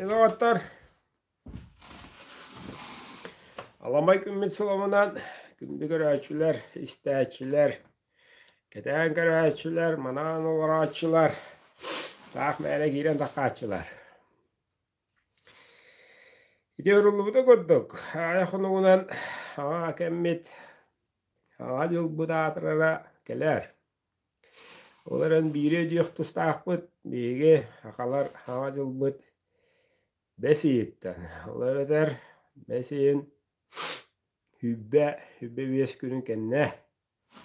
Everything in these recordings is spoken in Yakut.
Илоҕоттор Аламай күммүт сылымынан күндү көрөөччүлэр, истээччилэр, кэтээн көрөөччүлэр, манаан олорооччулар, таах мээлэ киирэн таххааччылар Ити оруллубута курдук, аҕай хонугунан аҕа кэммит, Аҕа дьылбыт аатырара кэлээр. Ол эрэн биири өдүөх тустаахпыт, биһиги сахалар Аҕа дьылбыт бэс ыйыттан. Ол эбэтэр бэс ыйын сүүрбэ, сүүрбэ биэс күнүн кэннэ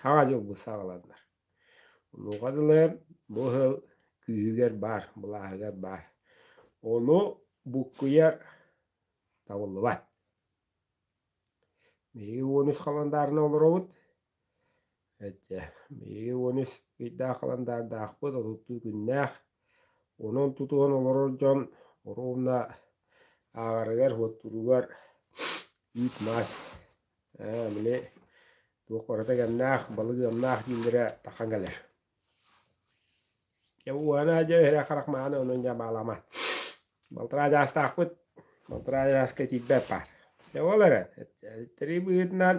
Саҥа дьылбыт саҕаланна. Онуоха дылы бу сыл күүһүгэр баар, былааһыгар баар. Ону буккуйар табыллыбат. Биһиги он үс халандаарына олоробут. Эдьэ, биһиги он үс ыйдаах халандардаахпыт, отуттуу күннээх. Онон тутуһан олорор дьон ровно ааҕарыгар, уоттууругар үүт-маас Ээ били туох барыта кэмнээх, балык ыамнаах дииллэрэ тахан кэлэр. Дьэ ууһана дьэ иһирэх харах мааны онон дьэ баалама. Балтараа дьаастаахпыт, балтараа дьааска тиийбэт баар. Дьэ ол эрэн тэрий быһыытынан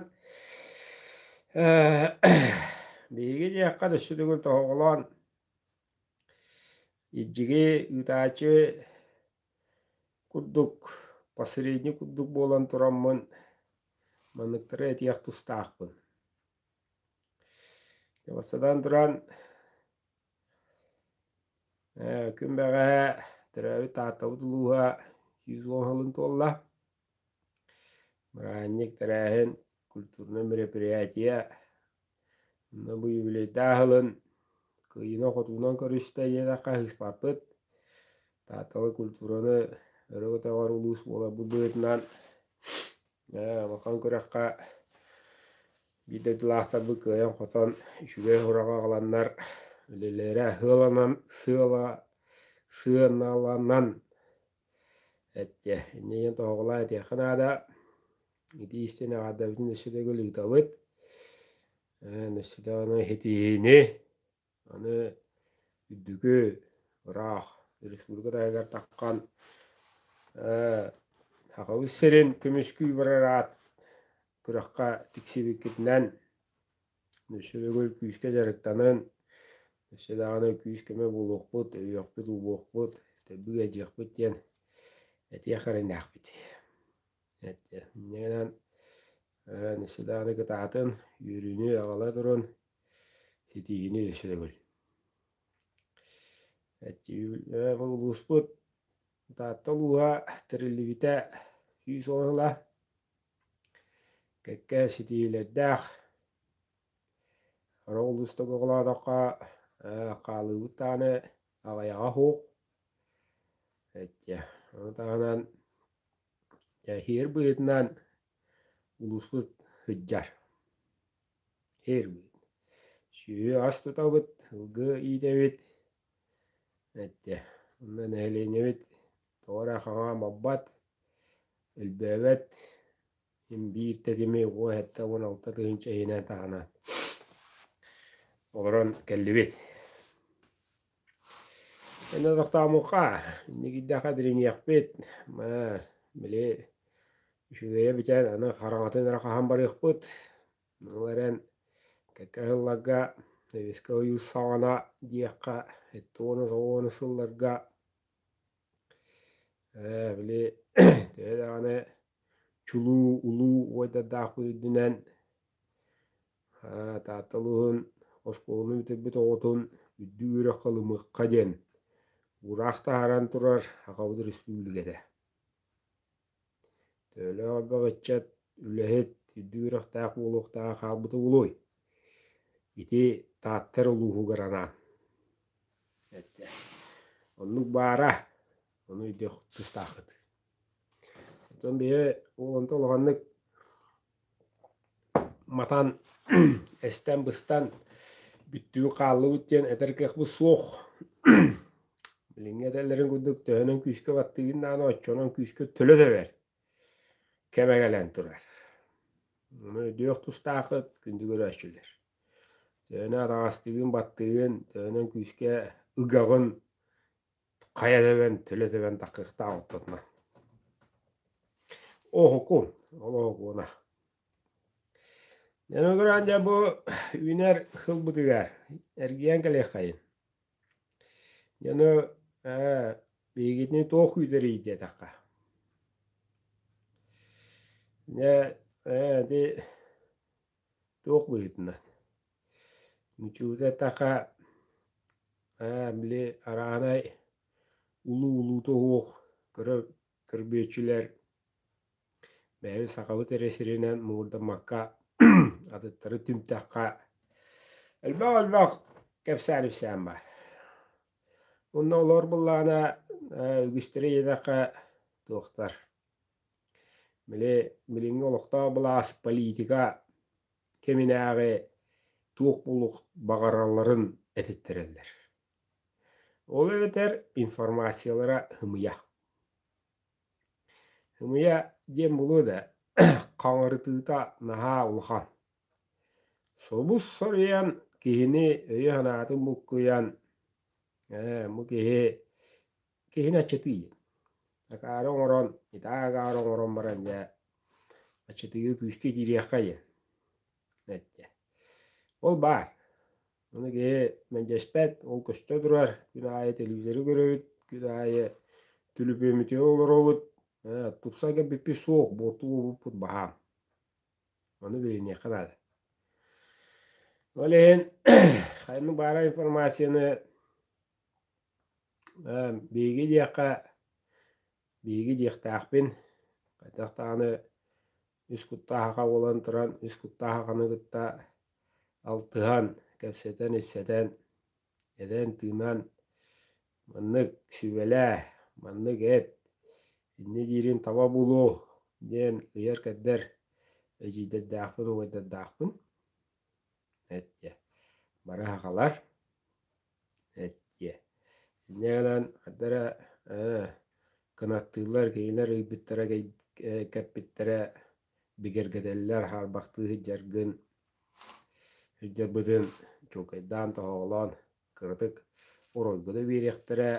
биһиги дьиэххэ да сүрүгүн тоһоҕолоон, иджиги ыытааччы Курдук, посредник курдук буолан тураммын, манныктары этиэх тустаахпын. Бастатан туран, күн бэҕэһээ төрөөбүт Тааттабыт улууһа сүүс уон сылын туолла. Бырааһынньык тэрээһин, культурнай мероприятие, онно бу юбилейдаах ылын, кыайыынан-хотуунан көрүстэ диэтэххэ аһыыспаппыт. Тааталы культураны өрө көтөҕөр улуус буолар бу быһыытынан улахан күрэххэ биир дойдулаахтарбыт кыайан-хотон үчүгэй ураҕа аҕаланнар үлэлэрэ сыаланан сыаланан Эттэ иннигин тоһоҕолоо этиэххэ наада итии истин аҕардабытын өссө төгүл ыытабыт өссө аны ситиһиини аны үрдүкү ыраах республика таһыгар таххан сахабыт сирин көмүскүү барар аат күрэххэ тиксибиккитинэн Өссө төгүл күүскэ дьарыктанан, өссө даҕаны күүс-көмө буолуохпут, өйүөхпүт-убуохпут, төгүл эдьиэхпит диэн этиэх эрэннээхпит. Иннинэн өссө даҕаны кытаатын, үөрүүнү аҕала турун, ситиһиини өссө төгүл. Улууспут Таатта улууһа тэриллибитэ сүүс уһула кэккэ ситиһиилэрдээх. Ора улуустук оҕолоотоххо хаалыыбыт даҕаны аҕыйаҕа уһук. Эчэ, ону таһынан иһэр быһыытынан улууспут сыдьар. Иһэр быһыт. Сүөһү ас тутабыт, ылгы иитэбит. Эдьдэ, онно нэһилиэнньэбит тоҕо эрэ хаҥаа маппат, өлбөөбөт, син биир тэтими уос сэттэ уон алта тыһыынча иһинэ-таһына олорон кэллибит. Эн олохтоомукка инникийдэххэ дириҥиэхпит, ма били үчүгэйэ бүтээн аны хараҥатын эрэ хаһан барыахпыт Ол эрэн кэккэ сылларга нөвүскэ ойуур саҕана диэххэ сэттэ уонус оҕо уонус сылларга ээ били төһө даҕаны чулуу улуу уойдардаах үрдүнэн аа Таатта улууһун оскуоланы бүтэрбит оҕотун үрдүк үөрэххэ ылымыахха диэн ыраах таһааран турар саха республиката Төөлөөх элбэх ыччат, үлэһит, үрдүк үөрэхтээх буолуохтааҕа хаалбыта буолуой? Ити Тааттар улууһугар анаан. Эттэ. Оннук баара, ону өйдүөх тустаахыт. Оттон биһи уоланта улаханнык матан эстэн-быстан бүттүү-хааллыбыт диэн этэр кыахпыт суох билиҥҥи этэллэрин курдук төһөнөн күүскэ баттыыгын даҕаны оччонон күүскэ төлө тэбэр кэмэ кэлэн турар ону өйдүөх тустаахыт күндү көрөөччүлэр төһөнү атаҕастыыгын баттыыгын төһөнөн күүскэ ыгаҕын хайа тэбэн, төлө тэбэн таккыктаах оттотно. Оһукун, ол оһукуна. Эн олорон дьэ бу үүнэр ылбытыга эргийэн кэлиэххэйин. Яны ээ биһигитини туох күүтэрий диэтэххэ. Дьэ, ити Туох быһыытынан? Мичилитэ таха ээ били арааһынай улуу улуута уһуох кыра көрбүөччүлэр бэйэбит сахабыт эрэ сиринэн муҥурдаммакка атыттары түмтэххэ элбэх элбэх кэпсээн-ипсээн баар. Онно олор буоллаҕына үгүстэрэ ийэтэххэ туохтар Били билиҥҥи олохтоох былаас политика кэминээҕи туох булук баҕаралларын этиттэрэллэр. Ол эбэтэр информациялара хымыйа. Хымыйа диэн булуо да хаҥырытыыта наһаа улахан. Собус соруйан киһини өйө-санаатын булкуйан бу киһи Киһини аччатыы. Акаары оҥорон, итаа агаары оҥорон баран дьэ аччатыыга күүскэ киириэххэ диэн эттэ. Ол баар. Ону киһи мэлдьэспэт, ол көстө турар. Күн аайы телевизору көрөбүт, күн аайы түлүпүөмүтү олоробут. Ээ, тупса кэбиппит суох, буорту уопуппут баһаам. Ону билиниэххэ наада. Ол иһин ханнык баара информацияны Биһиги диэххэ, биһиги диэхтээхпин, хайдах даҕаны үс куттаахха буолан туран, үс куттаахханы кытта алтыһан, кэпсэтэн-ипсэтэн, этэн-тыынан маннык сүбэлээ, маннык эт, инньэ диирин таба булуу диэн ыйар-кэрдэр эдьиийдэрдээхпин, убайдардаахпын. Эт диэ. Бары сахалар. Эттиэ. Инньэ гынан хата эрэ ээ кынаттыыллар кинилэр ыйбыттара кэппиттэрэ бигэргэтэллэр хаарбахтыы сылдьаргын сылдьарбытын чуукайдаан тоһоҕолоон кыратык оройго да биэриэхтэрэ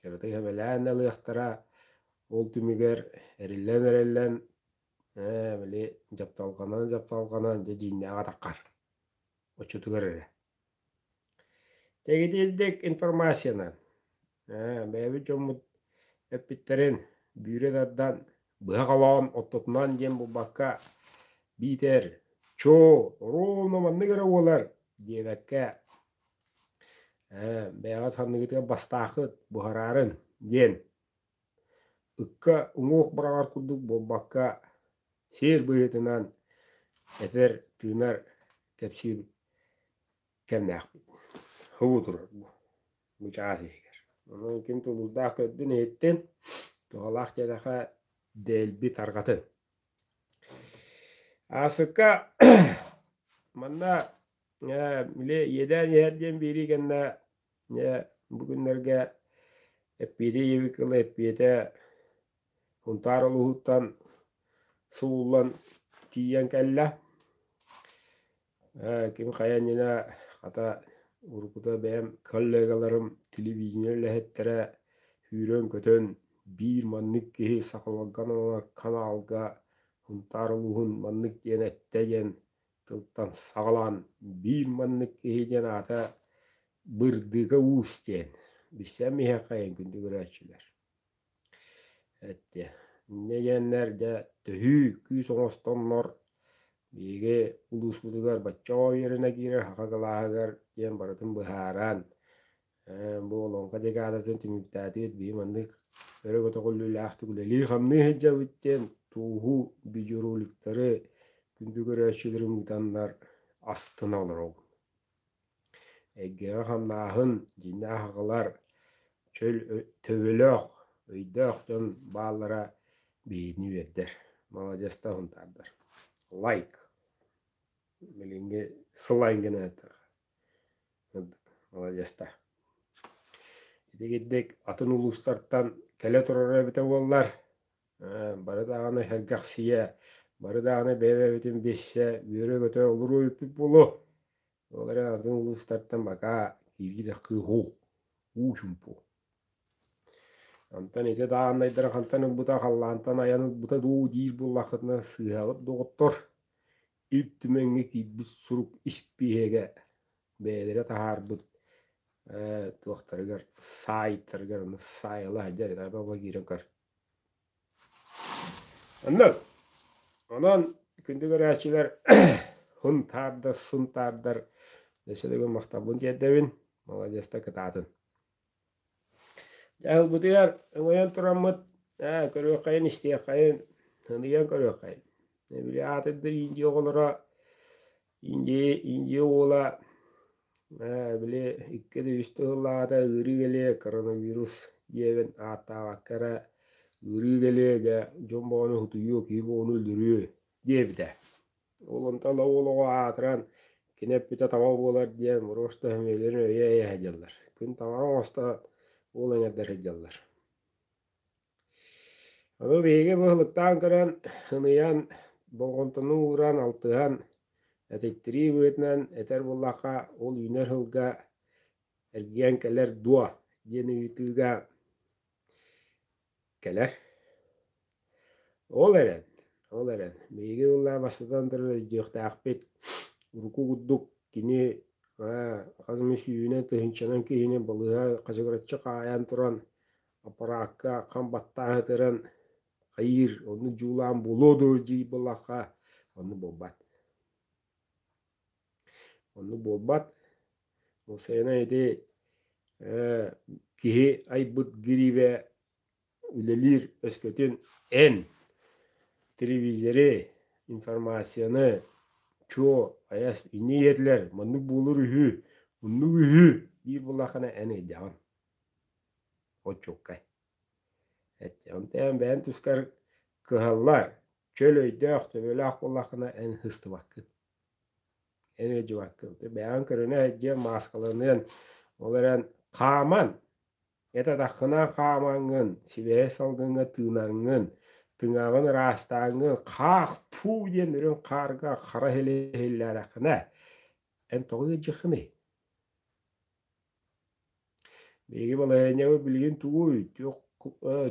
кыратык эбэлээн да ылыахтара ол түмүгэр эриллэн эриллэн ээ били дьапталҕанан дьапталҕанан дьэ дьиҥнээх атаххар оччотугар эрэ Тэгитилдик информацияны бэйэбит дьоммут эппиттэрин бүре тардан быһа холоон ортотунан диэн булбакка биитэр чоо ровно маннык эрэ буолар диэбэккэ бэйэҕит ханныгытыгар бастааххыт буһараарын диэн Ыкка уҥуох быраҕар курдук буолбакка, сиэр быһыытынан этэр, тыынар кэпсиир кэмнээхпит. Хобуу турар бу, мычаас иһигэр. Онон ким тулуурдаах көрдүн-иһиттин, туһалаах дьиэдэхэ дэлби тарҕатын. Аасыкка манна Э, били иэдээн иһэр диэн биэрии кэннэ э, бу күннэргэ эппиэтэ ийэбит кыла эппиэтэ Унтаар улууһуттан сууллан тиийэн кэллэ. Э, ким хайа иннинэ хата уруккута бэйэм коллегаларым телевидение үлэһиттэрэ сүүрэн-көтөн биир маннык киһи сахаларга каналга Унтаар улууһун маннык диэн эттэ диэн Тылтан саҕалаан биир маннык киһи диэн аата Бырдыга уус диэн. Билсэн миһэххэйин күндү көрөөччүлэр. Эттэ. Иннэ диэннэр дьэ төһүү күүс оҥостоннор биһиги улууспутугар бачча үөрэнэ киирэр хаха кылааһыгар диэн барытын быһааран бу олоҥхо декадатын түмүктээтит биһи маннык өрө-көтөх үллүүлээхтик үлэлии-хамныы сылдьабыт диэн тууһу видеороликтары күндү көрөөччүлэрим ыытаннар астына олоробун. Эйгэҕэ-хамнааһын, дьиҥнээх аҕалар, чөл төбөлөөх, өйдөөх дьон бааллара биһигини биэрдэр. Маладьыастар хунтаардар. Лайк. Билиҥҥи слайм гына Молодецта. Ити гиддик атын улуустартан кэлэ турара эбитэ буоллар, бары даҕаны сэргэхсийэ, бары даҕаны бэйэ-бэйэбитин билсэ, үөрэ-көтө олоруу эппит буолуо. Ол эрэн атын улуустартан бака кииргитэх кыыһу, уу чумпу. Онтон ити дааннайдары хантан ылбыта, халлаантан айан ылбыта дуу диир буоллаххытына, сыыһабыт доҕоттор Үүт Түмэҥҥэ киирбит сурук испииһэгэ бэйэлэрэ таһаарбыт э, туохтарыгар саайтарыгар аны саайала садьар таба киирэн кар. Онно онон күндү көрөөччүлэр хун таардар сун таардар дөсөлөгө махтабын тиэрдэбин маладьыста кытаатын Дьэ, ылбытыгар ымайан тураммыт, ээ, көрүөххэйин, истиэххэйин, ыныйан көрүөххэйин. Били аатырдыр Индия оҕолоро, Индия, Индия уола, ээ, били икки да үс тыһыллаҕата ыарыы кэлиэ коронавирус диэбин ааттаабакка эрэ ыарыы кэлиэ гэ дьон боҕону утуйуо, киһи боҕону өлөрүө диэбитэ. Олонтала уол оҕо аатыран, кини эппитэ таба буолар диэн Мурошта Эмилин өйө эйэһэ диэллэр. Күн таҥаҕа оҥостон уол эҥэрдэ сылдьаллар. Аны биһиги быһылыктаан көрөн, ыныйан, болҕомтону ууран, алтыһан, этиттирии быһыытынан этэр буоллахха, ол үүнэр сылга эргийэн кэлэр дуо диэн ыйытыыга кэлэр. Ол эрэн, ол эрэн, биһиги ыллаа бастатан турар өйдүөхтээхпит. Урукку курдук кини хас эмэ сүүһүнэн тыһыынчанан киһини балыыһа хачыгыраччы хаайан туран аппараакка хам баттааһытыран хайыыр, онну дьуулаан булуо дуу дии буоллахха, онну буолбат. Оннук буолбат. Ол сайына ити э, киһи айбыт гиривэ үлэлиир өскөтүн эн телевизори, информацияны чуо айас инньэ иһэтилэр маннык буолур үһү муннук үһү диир буоллаххына эн эйдэҕин очуккай Онтон бэйэм тускар кыһаллар, чөл өйдөөх, төбөлөөх буоллаххына эн сыстыбаккын. Эн ыалдьыбаккын. Бэйэҥ көрүнэ дьиэ мааскаланыан, ол эрэн хааман, этатаххына хаамаҥҥын, сибэһэй салгыҥҥа тыынаҥҥын, тыҥаҕын ыраастааҥҥын, хаах-фу диэн үрүҥ хаарга хара силэ иһиллээрэххинэ, эн тоҕо ыалдьыххыный? Биһиги балаһыанньаҕа билигин тугуй,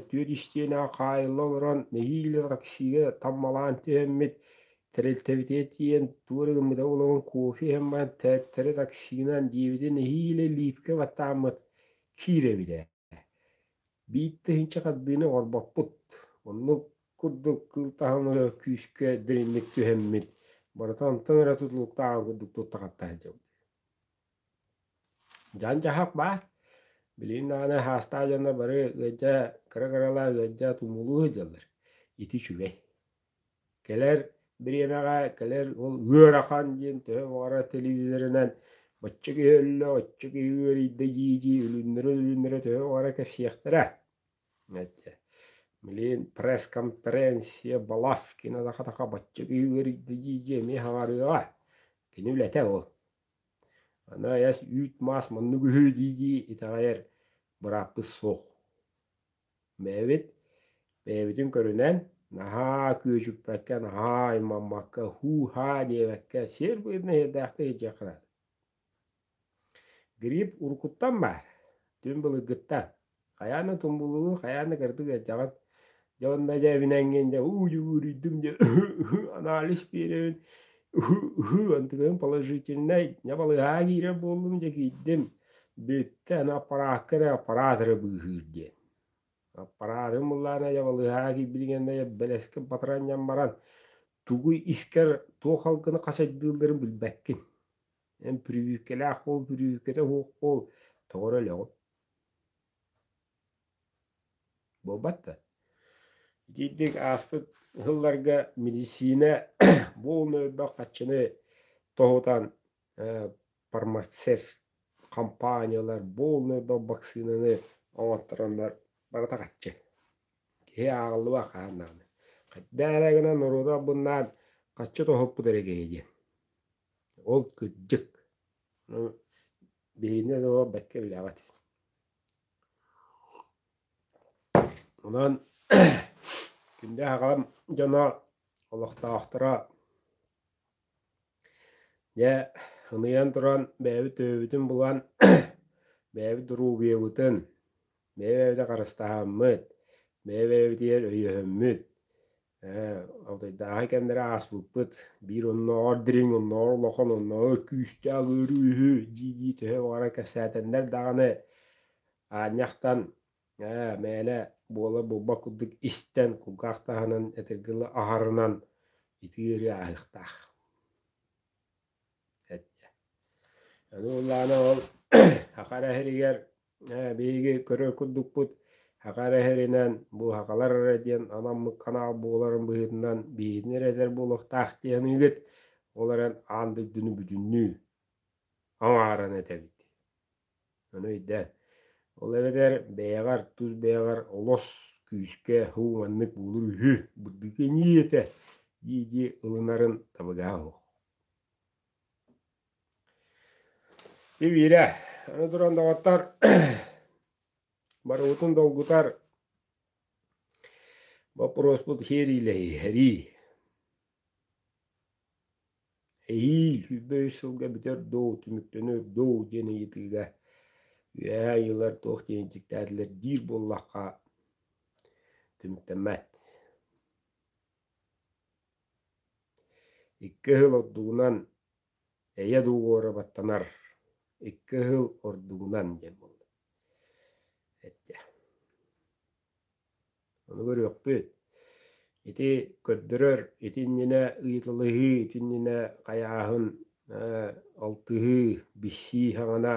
түөрт истиэнэҕэ хаайылла олорон нэһиилэ таксига таммалаан түһэммит, тэрилтэбитэ тиийэн туора гыммыта буолан кофе иһэн баран, тээттэри таксинан диэбитэ нэһиилэ лиипкэ баттааммыт киирэбитэ Бииртыһынча хардыыны оҥорбоппут. Оннук курдук кыыл таһымы күүскэ дириҥник түһэммит. Барыта онтон эрэ тутулуктааҕын курдук туттахаттаһан дьыллыыр. Дьаан-дьаһах баар. Билигин даҕаны хаастаах дьонно бары ыалдьа кыра-кыралаан ыалдьа тумулуу сылдьаллар. Ити үчүгэй. Кэлэр бириэмэҕэ кэлэр ол ыарахан диэн төһө баҕарар телевизорынан оччо киһи өллө, оччо киһи ыарыйда дии-дии өлүннэрэ-өлүннэрэ төһө баҕарар кэпсиэхтэрэ. Блин пресс-конференция Балашкина таха-таха бачча киһи ыарыйда дии-дии эмиэ хаҕарыаҕа. Кини үлэтэ ол. Аны айас үүт-маас маннык үһү дии-дии итэҕэйэр бырааппыс суох. Бэйэбит бэйэбитин көрүнэн наһаа күөдьүппэккэ, наһаа аймаммакка, һуу-һаа диэбэккэ сиэр быһыытынан иһэрдээхтик илдьиэххэ Грипп уруккуттан баар, түҥ былыргыттан. Хайаан да тумуллубут, хайаан да кырдык ыалдьаҕын. Дьэ онно дьэ эбинэн киһин дьэ уу дьэ үөрүйдүм диэн анализ биэрэбин. антынын положительнай небалыһаа киирэр буоллум дьэ киирдим бүттэ аны аппараакка эрэ аппараат эрэ быыһыыр диэн аппараатын буллаана ябалыһаа киирбитигэннэ бэлэски батранньан баран тугу искэр туох алгыны хачайдыылларын билбэккин эн бүрүүккэлээх буол бүрүүккэтэ уһук буол тоҕо эрэ өлөҕүт Буолбат да. Итиитик ааспыт сылларга мэдиссиинэ бу ууну элбэх хаччыны тоһутан фармацевт хампааньалар бу ууну элбэх баксыынаны оҥоттороннор барыта хаччы киһи ааҕыллыбат хаһан даҕаны. Хайдах эрэ гынан норуоту албыннаан хаччы тоһуппут эрэ киһи диэн. Ол кырдьык. Аны биһигини да олох бэккэ билээбэт. Онон кинини аҕам дьоно олохтоохторо дьэ ыныйан туран бэйэбит төбөбүтүн булан бэйэбит доруобуйабытын бэйэ-бэйэбитэ харыстаһаммыт бэйэ-бэйэбитигэр өйөһөммүт Ээ, Алтайдааҕы кэмнэрэ ааспыппыт. Биир оннооҕор дириҥ, оннооҕор улахан, оннооҕор күүстээх ыарыы үһү, дии-дии төһө баҕара кэпсээтэннэр даҕаны, аанньахтан ээ, мээлэ буола булбат курдук истэн, кулгаах таһынан, этэргэ дылы аһарынан итии ыарыы ааһыахтаах. Аны ол аана ол Аха эрэ иһиригэр Ээ, биһиги көрөр курдукпут Хакар эһэринэн Буухакалар эрэ диэн анаммыт канал буоларын быһыытынан биһигини эрэ этэр буолуохтаах дии саныыгыт. Ол эрэн аан дойдуну бүтүннүү аҥааран этэбит. Ону өйдөөн. Ол эбэтэр бэйэҕэр, тус бэйэҕэр олос күүскэ һуу маннык буолур үһү, бырдыкы инии этэ дии-дии ылынарын табыгаһа суох. Ивира, аны туран доҕоттор, барыбытын долгутар боппуруоспут хиэриилэһии, эрии. Эһии сүүрбэ үс сылга бүтэр дуу, түмүктөнөр дуу диэн ыйытыыга үөһээ ыйылар туох диэн дьиктээтилэр диир буоллахха, түмүктэммэт. Икки ыһыл ордугунан Эйэ дуу уорабаттанар, икки ыһыл ордугунан диэн буолла. Эттэ. Ону көрүөхпүт. Ити көрдөрөр, ити иннинэ ыйыталаһыы, ити иннинэ хайааһын, э, алтыһыы, билсии саҥана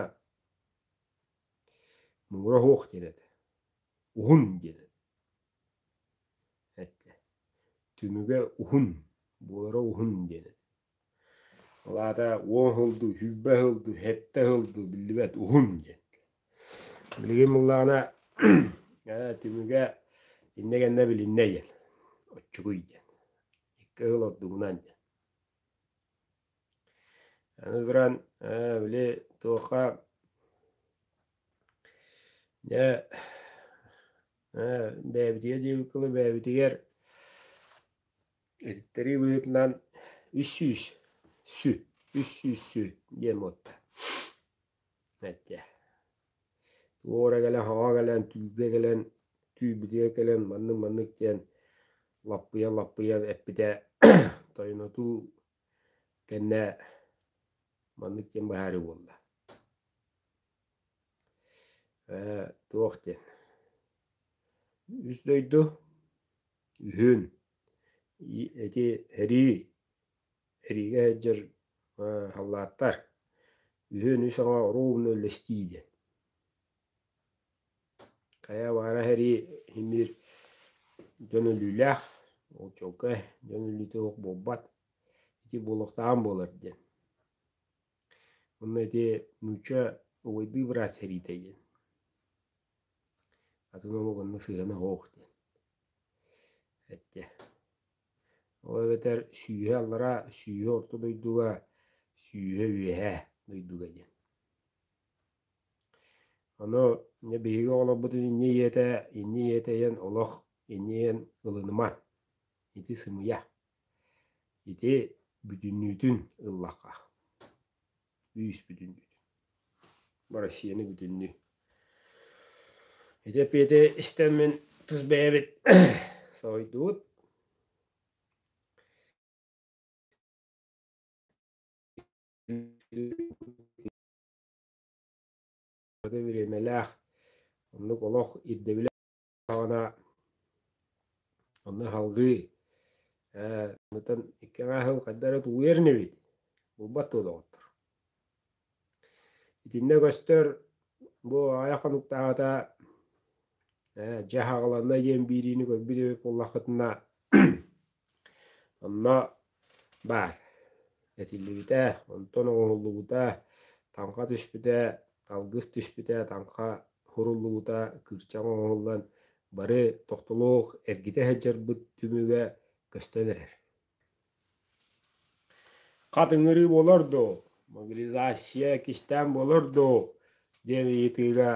муҥура суох диэн этэ. Уһун диэн этэ. Эттэ. Түмүгэ уһун, буолара уһун диэн этэ. Ол аата уон сылдыы, сүүрбэ сылдыы, сэттэ сылдыы биллибэт уһун диэн. Билигин буллаҕына ээ түмүгэ иннэ кэннэ билиннэ диэн. Оччугуй диэн. Икки сыл ордугунан диэн. Аны туран ээ били туохха дьэ ээ бэйэбитигэр диэбит кылы бэйэбитигэр Эттэри быһыытынан үс сүүс сү үс сүүс сү диэн буолта. Эттэ. Туора кэлэн, хаҕа кэлэн, түүлгэ кэлэн, түүлбүтүгэр кэлэн маннык-маннык диэн лаппыйа-лаппыйа эппитэ тойонотуу кэннэ маннык диэн быһаарыы буолла. Ээ, туох диэн. Үс дойду үһүн, ити эрии, эриигэ сылдьар халлааттар, үһүн үс оҥо оруобуна үллэстии диэн. Хайа баара эрии имир дьон өлүүлээх, ол чолко дьон өлүүтэ суох буолбат, ити буолуохтаан буолар диэн. Онно ити нуучча убайдыы быраас эриитэ диэн. Атын омук онно сыһыана оһох диэн. Эттэ. Ол эбэтэр сүүһэ аллараа, сүүһэ орто дойдуга, сүүһэ үөһэ дойдуга диэн. Ону дьэ биһиги оҕолорбутун инньэ ийэтэ, инньэ ийэтэ ийэн олох, инньэ ийэн ылыныма, ити сымыйа. Ити бүтүннүүтүн ыллахха. Ииспитин Россияны бүтүннүү ити эппиэти истэммин тус бэйэбит соһуйдубут бириэмэлээх оннук олох ирдэбилэ Аҕана онно аһалгыы э ытан иккиэҕэ аһыл хайда эрэ тулуйар инибит булбат туолоҕуттар итиннэ көстөр бу аҕай хонуктааҕыта э дьэ аҕаланна диэн биириини көрбүт эбит буоллаххытына Онно баар, этиллибитэ, онтон оҥоһуллубута, таҥха түспүтэ, алгыс түспүтэ, таҥха суруллубута, кыырчаҥ оҥоһуллан бары тохтолуох эргитэ сылдьарбыт түмүгэ көстөн эрэр. Хат ыҥырыы буолар дуу, мобилизация кистээн буолар дуу диэн ыйытыыга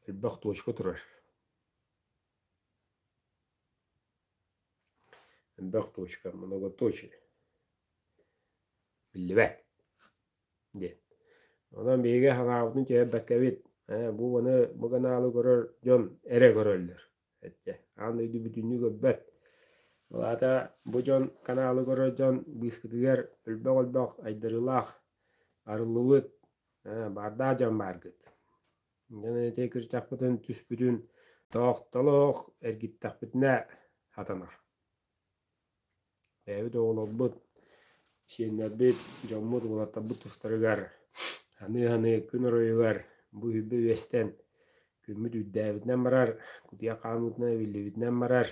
элбэх точка турар Элбэх точка, многоточие. Биллибэт. Диэн. Онон биһиги санаабытын түһэрбэккэбит, э, бу маны бу канаалы көрөр дьон эрэ көрөллөр. Этчэ, аан дойду бүтүннүү көрбөт. Алаата бу дьон канаалы көрөр дьон быыскытыгар өлбөх-өлбөх айдарыылаах арыллыбыт, э, баардаах дьон бааргыт. Дьэ ити кырчахпытын түспүтүн тоохтолоох эргиттэхпитинэ хатанар. Бэйэбит оҕолорбут, сиэннэрбит, дьоммут уолаттарбыт тустарыгар ханыы-ханыы күн оройугар бу үбэ үөстэн күммүт үрдээбитинэн барар, кутуйа хаамыытынан эбиллибитинэн барар,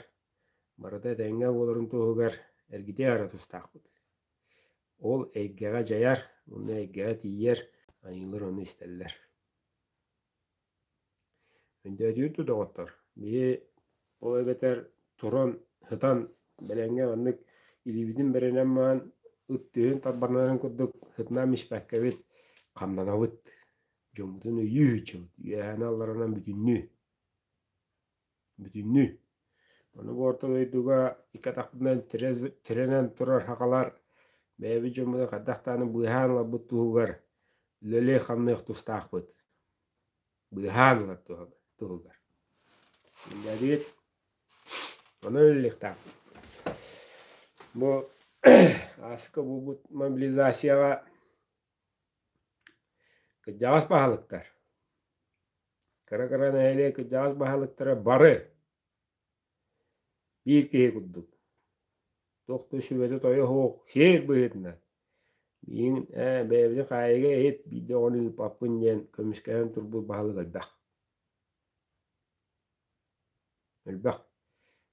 барыта этэҥҥэ буоларын туһугар эргитэ эрэ тустаахпыт. Ол эйгэҕэ дьайар, уонна эйгэҕэ тиийэр, айыылар ону истэллэр. Өндөөдүйүр да доҕоттор, биһи ол эбэтэр туран, сытан бэлэҥҥэ маннык илиибитин бэринэн маан ыт түһүн тарбанарын курдук сытынан мичпэккэбит, хамнанабыт. Дьоммутун өйүү сыччыбыт, үөһэни алларанан бүтүннүү. Бүтүннүү. Ону орто дойдуга икки атахпытынан тирэнэн турар хахалар бэйэбит дьоммутун хайдах даҕаны быыһаан ыларбыт туһугар үлэлиэх-хамныах тустаахпыт. Быыһаан ылар туһугар. Үлэлиир. Онон үлэлиэхтээхпит. Бу ааска буолбут мобилизацияҕа кырдьаҕас баһылыктар Кыра кыра нэһилиэк кырдьаҕас баһылыктара бары биир киһи курдук туох да сүбэтэ-тойо суох сиэр быһыытынан миигин ээ бэйэбитин хаайыга иһит биирдэ оҕону ыыппаппын диэн көмүскэһэн турбут баһылык элбэх элбэх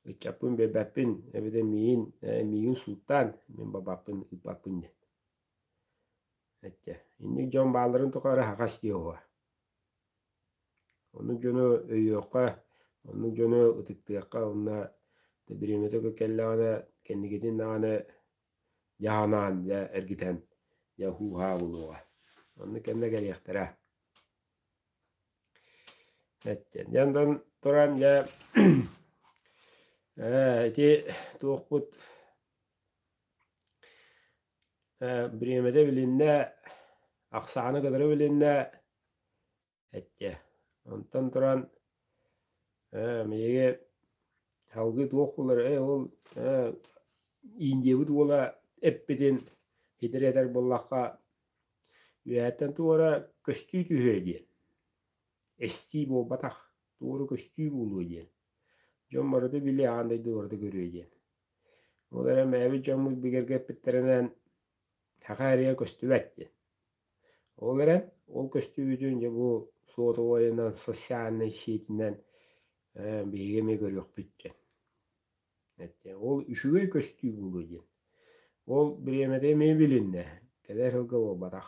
ыччаппын биэрбэппин эбэтэр миигин миигин сууттаан мин бабаппын ыыппаппын диэн Эттэ, инник дьон баалларын тухары аһаҕас дии уһуа. Ону дьону өйүөххэ, ону дьону ытыктыахха уонна бириэмэтэ кэллэҕинэ кэнникитин даҕаны дьаһанаан, дьэ эргитэн, дьэ һуу-һаа буолуоҕа. Онно кэннэ кэлиэхтэрэ. Эттэ, дьэ онтон туран дьэ ээ ити туохпут Э, бириэмэтэ билиннэ, ахсаана кытары билиннэ, эчэ, онтон туран э, биһиги салгыы туох булары, ол э, Индиябыт уола эппитин итири этэр буоллахха, үөһэттэн туора көстүү түһүө диэн, эстии буолбатах, туору көстүү буолуо диэн, дьон барыта билиэ, аан дойду барыта көрүө диэн. Ол эрэн бэйэбит дьоммут бигэргэппиттэринэн саха эриэ көстүбэт диэн. Ол эрэн ол көстүүбүтүн дьэ бу суотабайынан, социальнай сиитинэн ээ биһиги эмиэ көрүөхпүт диэн. Ол үчүгэй көстүү буолуо диэн. Ол бириэмэтэ эмиэ билиннэ, кэлэр сылга буолбатах.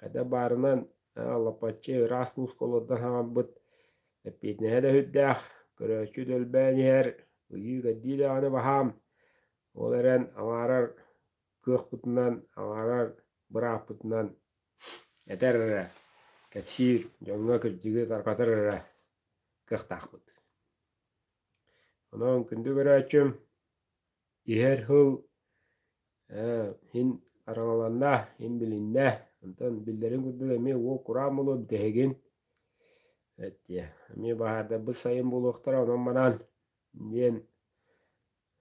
Хата баарынан Алапаччы ыраас нуускалардан хаҥарбыт эппиэтинэһэ да сүрдээх, көрөөччү да өлбөөн иһэр, ыйыы кэрдии даҕаны баһаам. Ол эрэн аҥаарар кыахпытынан, аҥаарар бырааппытынан этэр эрэ, кэпсиир, дьоҥҥо кырдьыгы тарҕатар эрэ кыахтаахпыт. Онон күндү көрөөччүм, иһэр һыл ээ иһин араҥаланна, иһин билиннэ, онтон биллэрин курдук эмиэ уол кураан буолуо бүтэһигин эттиэ эмиэ баһаардарбыт сайын буолуохтара онон-манан диэн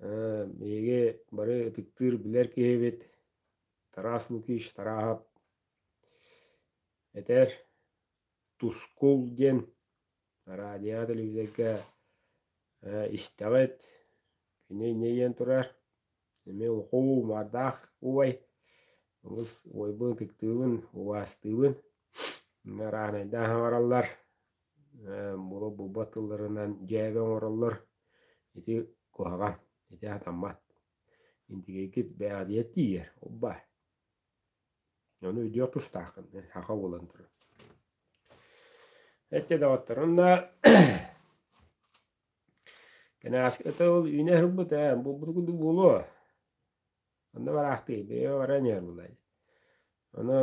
ээ биһиги бары ытыктыыр билэр киһибит Тарас Лукич Тараһап этэр Тускул диэн радиоҕа, телевизорга э, истэҕит, кини инэйиэн турар, эмиэ ухуу, умардаах убай, олус убайбын, ытыктыыбын, убаастыыбын, арааһынайдаан хаҥараллар, э, булбут тылларынан дьээбэ оҥороллор, ити куһаҕан, ити сатаммат, интигэйгит бэйэҕитигэр тиийэр, уббаа. Ону өйдүөх тустааххын, саха буолан турар. Эттэ доҕотторум да Кэнээски это ол үүнэ сырбыт ээ, булбут курдук буолуо. Онно бараахтыы, бэйэ баран иһэр булай. Ону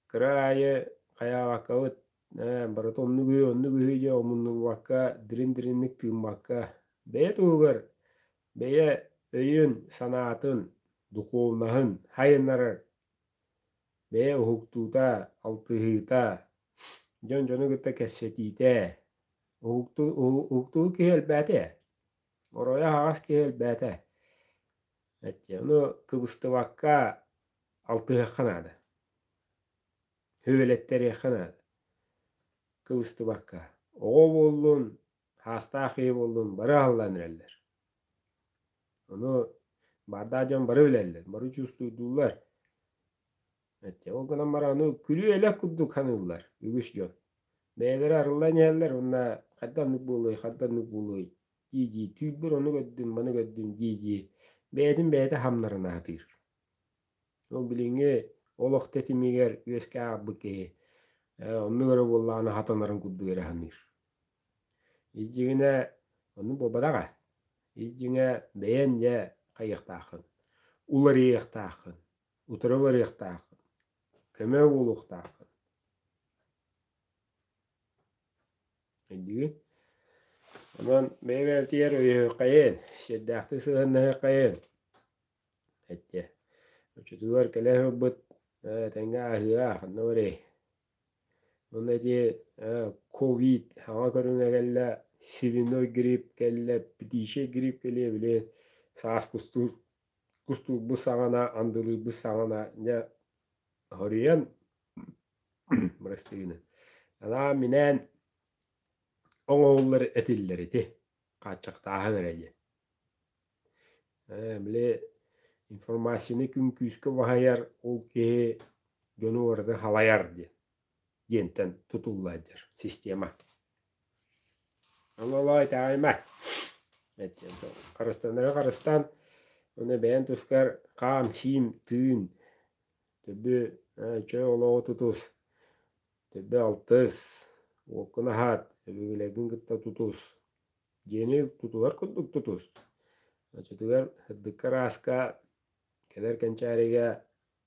кыра аайы хайаабаккабыт, ээ, барыта оннук үһү, оннук үһү дьэ омуннулбакка, дирин-диринник тыыммакка, бэйэ туһугар бэйэ өйүн-санаатын, духуобунаһын сайыннарар, бэйэ уһуктуута, алтыһыыта, дьон-дьону кытта кэпсэтиитэ, уһуктуу киһи элбээтэ, оройо аһаҕас киһи элбээтэ. Ону кыбыстыбакка алтыһыахха наада, үбүлэттэриэххэ наада кыбыстыбакка. Оҕо буоллун, Хаастаах киһи буоллун бары аһыллан эрэллэр. Ону баардаах дьон бары билэллэр, бары чувствуйдуулар. Эчэ ол гынан баран аны күлүү-элэк курдук саныыллар үгүс дьон. Бэйэлэрэ арыллан иһэллэр уонна хадданнык буолуой, хадданнык буолуой дии-дии түүлбүр ону көрдүм, маны көрдүм дии-дии бэйэтин бэйэтэ хамнарын аһатыыр. Ол билиҥҥи олох тэтимигэр үөскээх ааҕбыт киһи оннук эрэ буоллаҕына хатанарын курдук эрэ саныыр. Илдьиҥэ ону бабараҕа, илдьиҥэ бэйэн дьэ хайыахтааххын, уларыйыахтааххын, утары барыахтааххын, көмө буолуохтааххын. Илдьигин онон бэйэ-бэйэтигэр өйөһүөххэйин, сиэрдээхтик сыһыаннаһыаххайын эттэ. Оччотугар кэлэ сылбыт этэҥҥэ ааһыа, ханна барыай. Ону эрии ковид саҥа көрүҥэ кэллэ, свиной грипп кэллэ, птичий грипп кэлиэ били саас кустуур кустуурбут саҕана, андылыырбыт саҕана дьэ хоруйан бырастыгынан анаа минээн оҥоһуллар этиллэр ити хааччахтааһын эрэ диэн Ээ, били информацияны күн күүскэ уһайар ол киһи дьону барыта халайар диэн диэнтэн тутулла илдьэр система. Оҥолоой таайма. Харыстанары харыстаан ону бэйэн тускар хаам-сиим тыын төбү чөл олоҕу тутус төбө алтыс уоккун аһаат өбүгэлэргин кытта тутус Дьиэни тутулар курдук тутус. Оччотугар сырдыкка ырааска, кэлэр кэнчээригэ,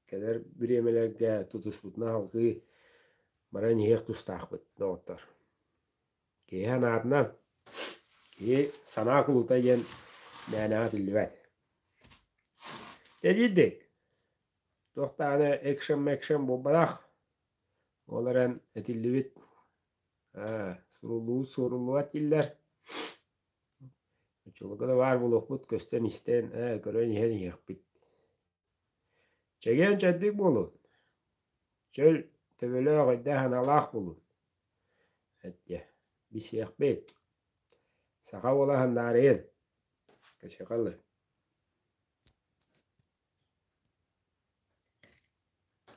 кэлэр бириэмэлэргэ тутуспутуна салгыы баран иһиэх тустаахпыт доҕоттор. Киһи санаатынан, киһи санаа кулута диэн мээнэҕэ этиллибэт. Дэдиирдик, туох даҕаны экшен-мэкшен буолбатах. Ол эрэн этиллибит Ээ, сурулуу суруллубатиллар. Оччолорго да баар буолуохпут, көстөн-истэн, ээ, көрөн-иһэн иһиэхпит. Чэгиэн чэбдик буолун, чөл, төбөлөөх, өйдөөх аналаах булун. Эттиэ, билсиэхпит. Саха буолаһын наарыйын, кычыкалыы.